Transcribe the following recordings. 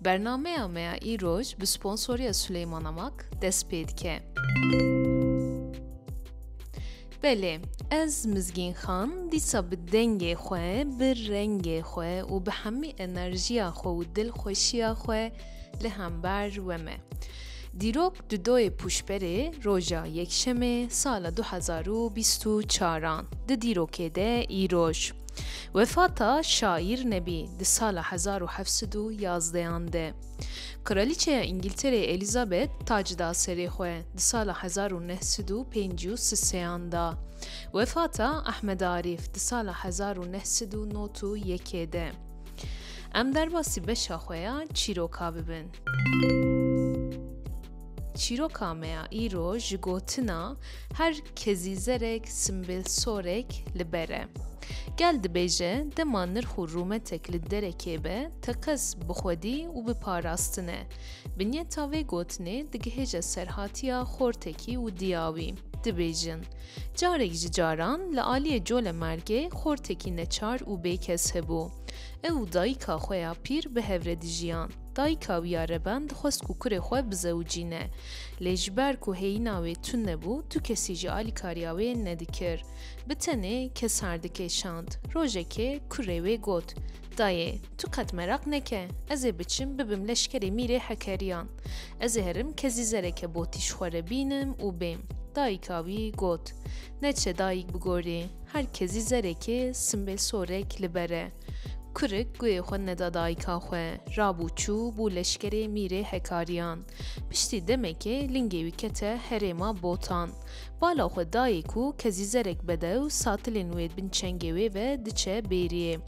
Bernameya me ya îroj bi sponsoriya Suleyman Amak dest pê dike. Belê, ez Mizgîn Xan dîsa bi dengê xwe, bi rengê xwe û bi hemî enerjiya xwe û dilxweşiya xwe li hember we me. Dîrok di doyê pûşberê roja Yekşemê sala du hezar û bîst û çar an di dîrokê de îroj wefata şaîr nebî di sala hezar û heft sed û yazdeh an de Kraliçeya Îngîltereyê Elîzabet tac da serê xwe di sala hezar û neh sed û pêncî û si sê an da wefata Ehmed Arîf di sala hezar û neh sed û not û yekê de Em derbasî beşa xwe ya çîroka bibin. Çîroka me ya îro ji gotina her kezîzerek simbêlsorek li ber e. Gel dibêje dema nirx û rûmetek li derekê be teqez bi xwedî û bi parastin e. Binyeta vê gotinê digihêje serhatiya xortekî û diyawî. Dibêjin, carek ji caran li aliyê Colemergê xortekî neçar û bêkes hebû. Ew û dayika xwe ya pîr bi hev re dijiyan. Dayika wî ya Reben dixwest ku kurê xwe bizewicîne. Lê ji ber ku hêyîna wê tund nebû, tu kesî ji alîkariya wê nedikir. Bi tenê Kesar dikêşand. Rojekê kurê wê got, Dayê, tu qet meraq neke, ez ê biçim bibim leşkerê mîrê Hekeriyan. Ez ê herim kezî zereke botîş xwe re bînim û bêm. Dayika wî got, Neçe dayik bi gorî, her kezî zerekê simbê sorek li ber e. Kurik guyê xwe neda dayika xwe, rabû çû bû leşkerê mîrê Hekariyan. Piştî demekê lingê wî kete herêma Botan. Bala xwe dayê ku kezîzerek bedew satilên wê bin çengê wê ve diçe bêriyê.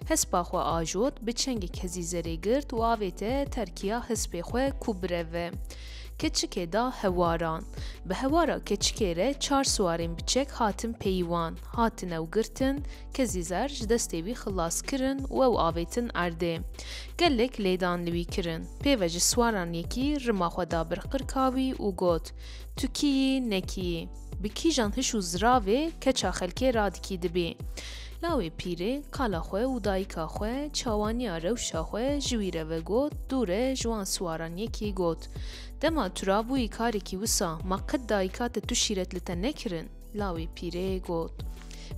Hespa xwe ajot, bi çengê kezîzerê girt û avête terkiya hespê xwe ku bireve. Keçikê da hewaran. Bi hewara keçikê re çar siwarên bi çek hatin peyî wan, hatine û girtin, Kezî Zer ji destê wî xilas kirin û ew avêtin erdê. Gelek lêdan li wî kirin. Pêve ji swaran yekî rima xwe da bir qirka wî û got, Tu kî yî, ne kî yî? Bi kîjan hiş û ziravê keça xelkê radikî dibî? Lawê pîrê kala xwe û dayika xwe çawaniya rewşa xwe ji wî re vegot, dûre ji wan swaran yekî got, Dema tu rabûyî karekî wisa ma qet dayika te tu şîret li te nekirin? Lawê pîrê got,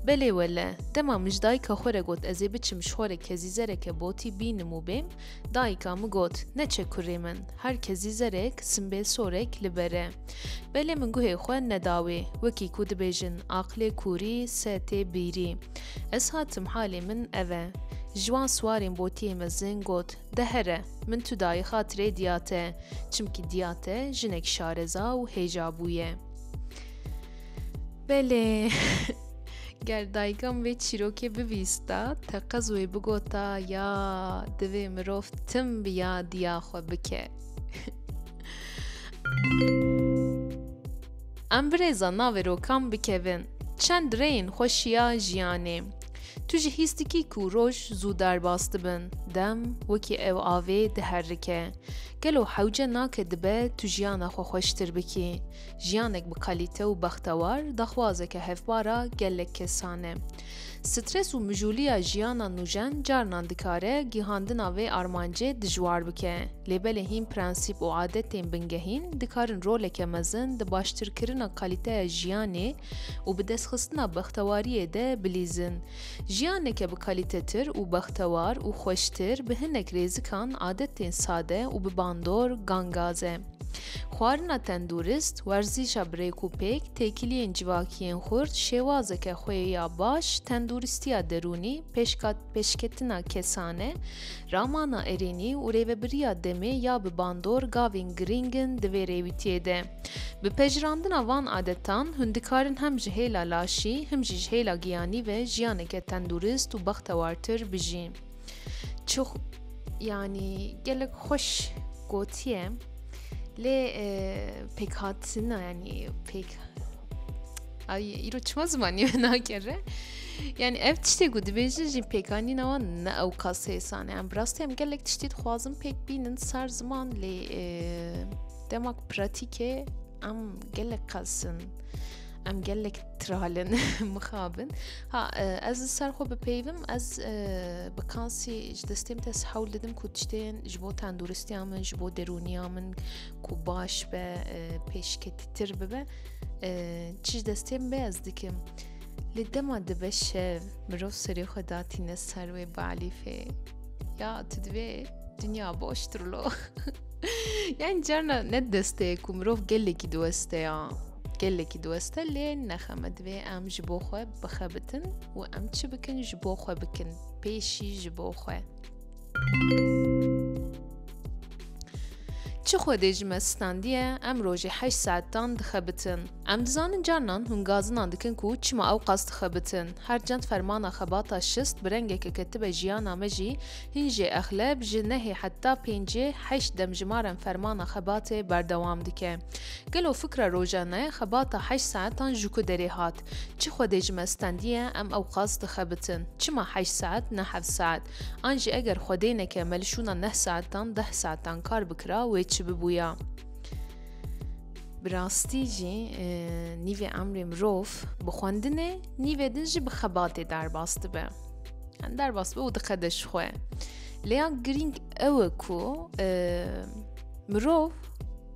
Belê wele, dema mij dayika xwe re got ez ê biçim ji xwe re kezîzereke botî bînim û bêm, dayika min got, Neçe kurê min, her kezîzerek simbêl sorek li ber e. Belê min guhê xwe neda wê, wekî ku dibêjin aqilê kûrî se tê bîrî. Ez hatim halê min ev e. Ji wan siwarên botiyê mezin got, De here, min tu dayê xatirê Diyate, çimkî Diyate jinek şareza û hêja bûye. Belê ger dayika min vê çîrokê bivîsta teqez wê bigota ya divê mirov tim bi yadiya xwe bike. Em birêza navê rokan bikevin. Çend rêyên xweşiya jiyanê. Tu ji hîs dikî ku roj zû derbas dibin, dem wekî ew avê diherike. Gelo hewce nake dibe tu jiyana xwe xweştir bikî? Jiyanek bi kalîte û bextewar daxwazeke hevpara gelek kesan e. Stres û mijûliya jiyana nûjen carinan dikare gihandina vê armancê dijwar bike, lê belê hîn prensîp û adetên bingehîn dikarin roleke mezin di baştirkirina kalîteya jiyanê û bidestxistina bextewariyê de bilîzin. Jiyaneke bi kalîtetir û bextewar û xweştir bi hinek rêzikan, adetên sade û bi bandor gangaz e. Xwarina tendûrist, werzîşa bi rêk û pêk, têkiliyên civakî yên xurt, şêwazeke xwe ya baş, tendûristiya derûnî, pêşka pêşketina kesane, ramana erênî û rêvebiriya demê ya bi bandor gavên girîng in di vê rêwîtiyê de. Bi pejirandina van adetan, hûn dikarin hem ji hêla laşî, him jî ji hêla giyanî ve jiyaneke tendurist û bextewartir bijîn. Çi yanî gelek xweş gotiye lê pêkhatina yanî pêk Ay îro çima zimanî me nakere yani ev tiştê ku dibêjin jî pêkanîn ewa ne ew kas hêsan em bi rastî em gelek tiştî dixwazin pêk bînin ser ziman lê Dema ku pratîkê em gelek qelsin em gelek tralin mixabin ha e, ez li ser xwe bipeyvim ez e, bi kansî ji destêm te hewl didim ku tiştên ji bo tenduristiya min ji bo derûniya min ku baş be e, pêşketîtir bibe çi ji destêm be ez dikim li dema dibe şev mirov serê xwe datîne ser wê balîfê ya tu divê dünya boştur lo Yani carna ne destê ku mirov gelekî diweste ya gelekî diweste lê nexeme divê em ji bo xwe bixebitin û em çi bikin ji bo xwe bikin pêşî ji bo xwe Çi xwe dê ji me standiye em rojê heşt saetan dixebitin. Em dizanin carnan hûn gazinan dikin ku çima ew qas dixebitin. Her cend fermana xebata şist bi rengeke ketibe jiyana me jî Hîn jê exleb ji nehê heta pêncê heşt demjimaren fermana xebatê berdewam dike. Gelo fikra rojane xebata heşt saetan ji ku derê hat? Çi Xwedê ji me stendiye em ewqas dixebitin? Çima heşt saet ne heft saet? An jî eger Xwedê neke me li şûna neh saetan deh saetan kar bikira wê çi bibûya? Bi rastî jî nîvê emrê mirov bi xwendinê nîvê din jî bi xebatê derbas dibe. derbas be û diqede ji xwe lêya girîng ew e ku e, mirov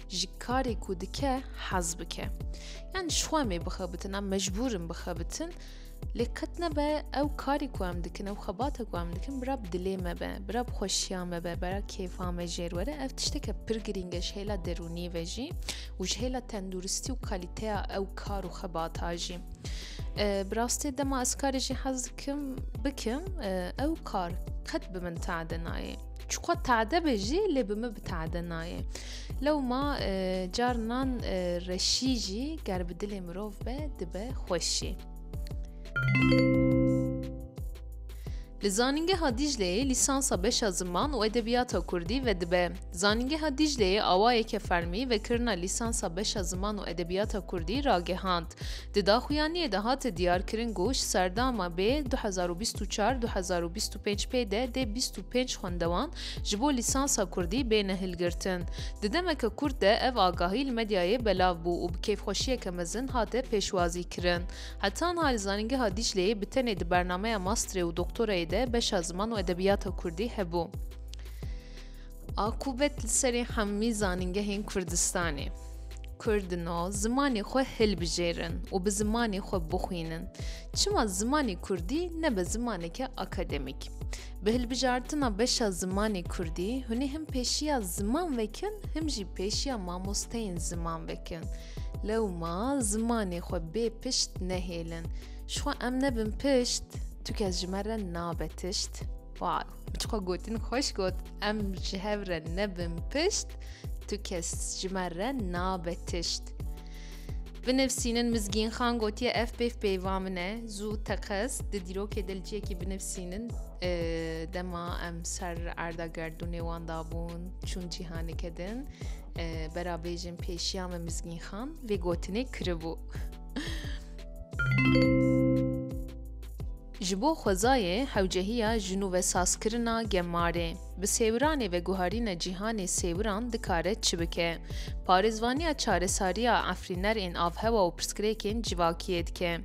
ji karê ku dike hez bike yan ji xwe mê bixebitin em mecbûrin bixebitin lê qet nebe ew karê ku em dikin ew xebate ku em dikin bira bi dilê me be bira bi xweşiya me be bira kêfa me jêr were ev tişteke pir girînge ji hêla derûnî ve jî û ji hêla tenduristî û kalîteya ew kar û xebata jî. Bi rastî dema ez karê jî hez dikim bikim ew kar qet bi min tade nayê. Çiqo tade be jî lê bi min bi tade nayê. Lewma carinan reşî jî ger bi dilê mirov be dibe xweşî. Li Zanîngeha Dîcleyê lîsansa beşa ziman û edebiyata kurdî vedibe. Zanîngeha Dîcleyê awayeke fermî vekirina lîsansa beşa ziman û edebiyata kurdî ragehand. Di daxuyaniyê de hate diyarkirin ku ji serdama bê du hezar û bîst û çar du hezar û bîst û pênc pê de dê bîst û pênc xwendewan ji bo lîsansa kurdî bêne hilgirtin. Di demeke kurt de ev agahî li medyayê belav bû û bi kêfxweşiyeke mezin hate pêşwazîkirin. Heta niha li Zanîngeha Dîcleyê bi tenê di bernameya masterê û doktorayê de beşa ziman û edebiyata kurdî hebû. Akûbet li serê hemî zanîngehên Kurdistanê. Kurdino zimanê xwe hilbijêrin û bi zimanê xwe bixwînin. Çima zimanê kurdî nebe zimaneke akademîk? Bi hilbijartina beşa zimanê kurdî, hûnê him pêşiya ziman vekin, him jî pêşiya mamosteyên ziman vekin. Lewma zimanê xwe bê pişt nehêlin. Ji xwe em nebin pişt, tu kes ji me re nabe tişt. Wow, çiqo gotin xweş got, em ji hev re nebin pişt, tu kes ji me re nabe tişt. Binivîsînin Mizgîn Xan gotiye ev pêv pêva min e zû teqez di dîrokê de li ciyekî binivîsînin e, dema em ser erda gerdûnê wan dabûn çûn cîhaneke din berabêjin pêşiya me Mizgîn Xan vê gotinê kiribû. Ji bo xwezayê hewcehiya jin û vesazkirina gemarê, bi sêwiranê veguharîna cîhanê sêwiran dikare çi bike? Parêzvaniya çaresariya efrîner ên avhewa û pirsgirêkên civakiyê dike.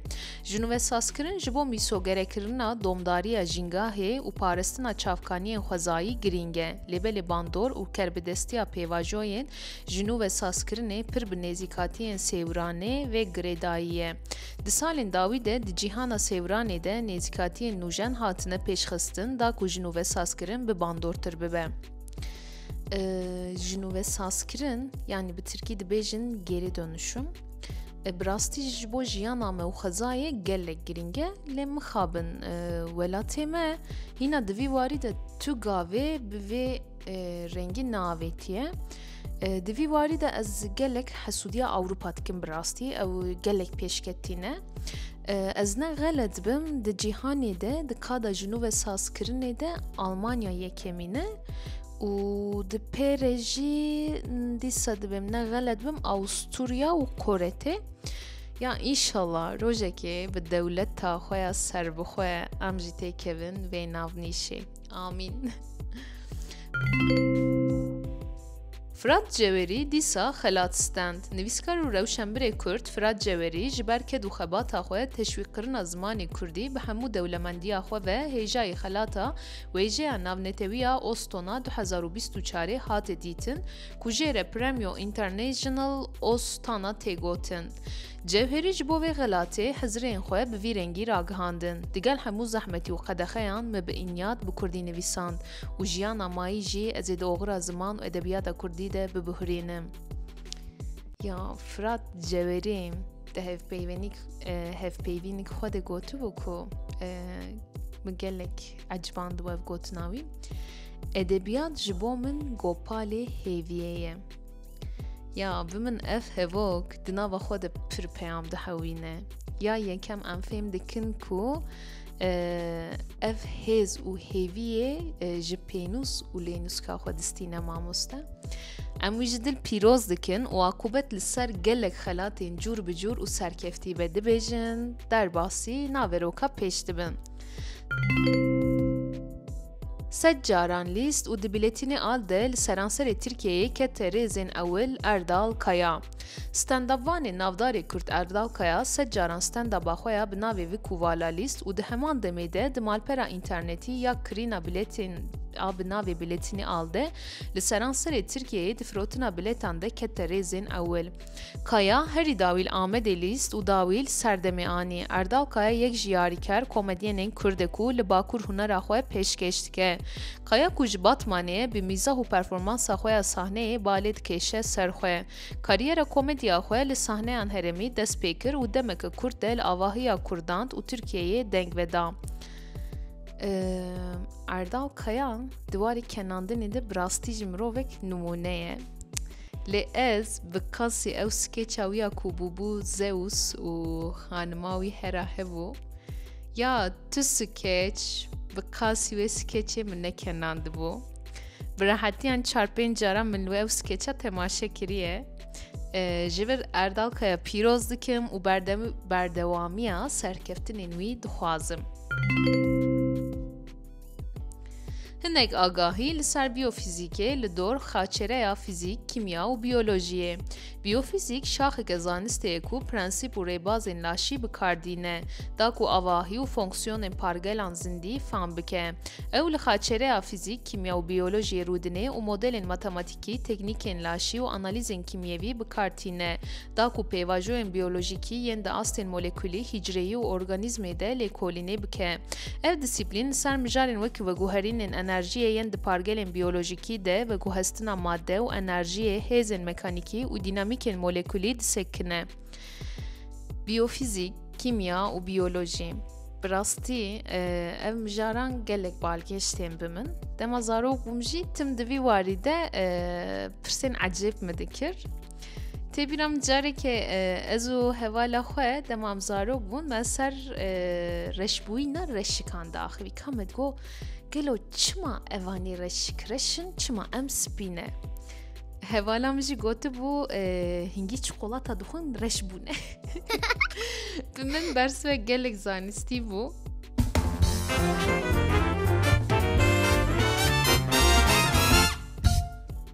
Jin û vesazkirin ji bo mîsogerekirina domdariya jîngahê û paristina çavkaniyên xwezayî girîng e. Lêbelê bandor û kerbidestiya pêvajoyên ji nû ve sazkirinê pir bi nêzîkatiyên sêwiranê vê girêdayî ye. Di salên dawî de di cîhana sêwiranê de nêzîkatiyên nûjen hatine pêşxistin da ku ji nû ve sazkirin bi bandortir bibe. Ji nû ve sazkirin yanî bi tirkî dibêjin geri dönüşüm. Bi rastî ji bo jiyana me û xwezayê gelek girîng e lê mixabin welatê me hîna di vî warî de tu gavê bi vê rengî naavêtiye. Di vî warî de ez gelek hesûdiya Ewropa dikim bi rastî ew gelek pêşketî ne. Ez ne xelet bim di cîhanê de di kada jinû ve sazkirinê de Almanya yekemîne û di pêrê jî dîsa dibim ne xelet bim Awusturya û Koretê ya înşallah rojekê bi dewleta xwe ya serbixwe em jî têkevin vê navnîşê amîn Firat Cewerî dîsa xelat stend. Nivîskar û rewşenbirê Kurd Firat Cewerî ji ber ked û xebata xwe teşwîqkirina zimanê Kurdî bi hemû dewlemendiya xwe ve hêjayî xelata Wêjeya Navnetewiya Ostona du hezar û bîst û çarê hate dîtin ku jê re Premio International Ostana tê gotin. Cewherî ji bo vê xelatê hizirên xwe bi vî rengî ragihandin, Digel hemû zehmetî û qedexeyan me bi înyat bi kurdî nivîsand û jiyana mayî jî ez ê di oxira ziman û edebiyata kurdî de bibihurînim. Ya Firat Cewherî di hevpeyvenîk hevpeyvînîk xwe de gotibû ku min gelek ecband wev gotina wî. Edebiyat ji bo min gopalê hêviyê ye. Ya bi min ev hevok di nava xwe de pir peyam dihewîne. Ya yekem em fêm dikin ku ev hêz û hêviyê ji pênûs û lênûska xwe distîne mamoste. Em wî ji dil pîroz dikin û akûbet li ser gelek xelatên cûr bi cûr û serkeftî be dibêjin, derbasî naveroka pêş dibin. Sed caran lîst û di bilêtînê a de li seranserê Tirkiyeyê kete rêzên ewil Erdal Kaya. Standupvanê navdarê Kurd Erdal Kaya sed caran standupa xwe ya bi navê vi kûvala lîst û di heman demê de di malpera înternetî ya kirîna bilêtên a bi navê Bilêtînê a de li seranserê Tirkiyeyê di firotina bilêtan de kete rêzên ewil. Kaya, herî dawîl Amedê lîst û dawîl serdemê anî. Erdal Kaya yek ji yarîker komedyenên Kurd e ku li Bakur hunera xwe pêşkêş dike. Kaya ku ji Batmanê ye, bi mîzah û performansa xwe ya sahneyê balê dikêşe ser xwe. Karîyera komedya xwe li sahneyan herêmî dest pê kir û demeke kurt de li avahiya Kurdan û Tirkiyeyê deng veda. Erdal Kaya di warê kenandinê de bi rastî jî mirovek nimûne ye. Lê ez bi kasî ew skêça wî ya ku bûbû Zeus û xanima wî Hera hebû, ya tu skêç bi kasî wê skêçê min nekenandibû. Bi rehetiyan çar pênc caran min li wê ew skêça temaşe kiriye. Ji vir Erdal Kaya pîroz dikim û berdewamiya serkeftinên wî dixwazim. Hinek agahî li ser biyofîzîkê li dor xaçereya fîzîk, kîmya û biyolojiyê. Biyofîzîk şaxeke zanistê ye ku prensîp û rêbazên laşî bi kar dîne da ku avahî û fonksiyonên pargelan zindî fam bike. Ew li xaçereya fîzîk, kîmya û biyolojiyê rûdine û modelên matematîkî, teknîkên laşî û analîzên kîmyevî bi kar tîne da ku pêvajoyên biyolojîkî yên di astên molekulî, hîcreyî û organîzmê de lêkolînê bike. Ev dîsîplîn li ser mijarên wek veguherînên enerjiyê yên di pargelên biyolojîkî de, veguhestina made û enerjiyê, hêzên mekanîkî û dînamîkên molekulî disekine. Biyofîzîk, kîmya û biyolojî. Bi rastî ev mijaran gelek balkêş tên bi min. Dema zarok bûm jî tim di vî warî de pirsên ecêb min dikir. Tê bîra min carekê ez û hevala xwe dema em zarok bûn me ser reşbûyîna reşikan daxivî ka me got gelo çima evanî reşik reşin çima em spîne hevala min jî gotibû hingî çikolata dixwin reş bûne bi min bersve gelek zanistî bû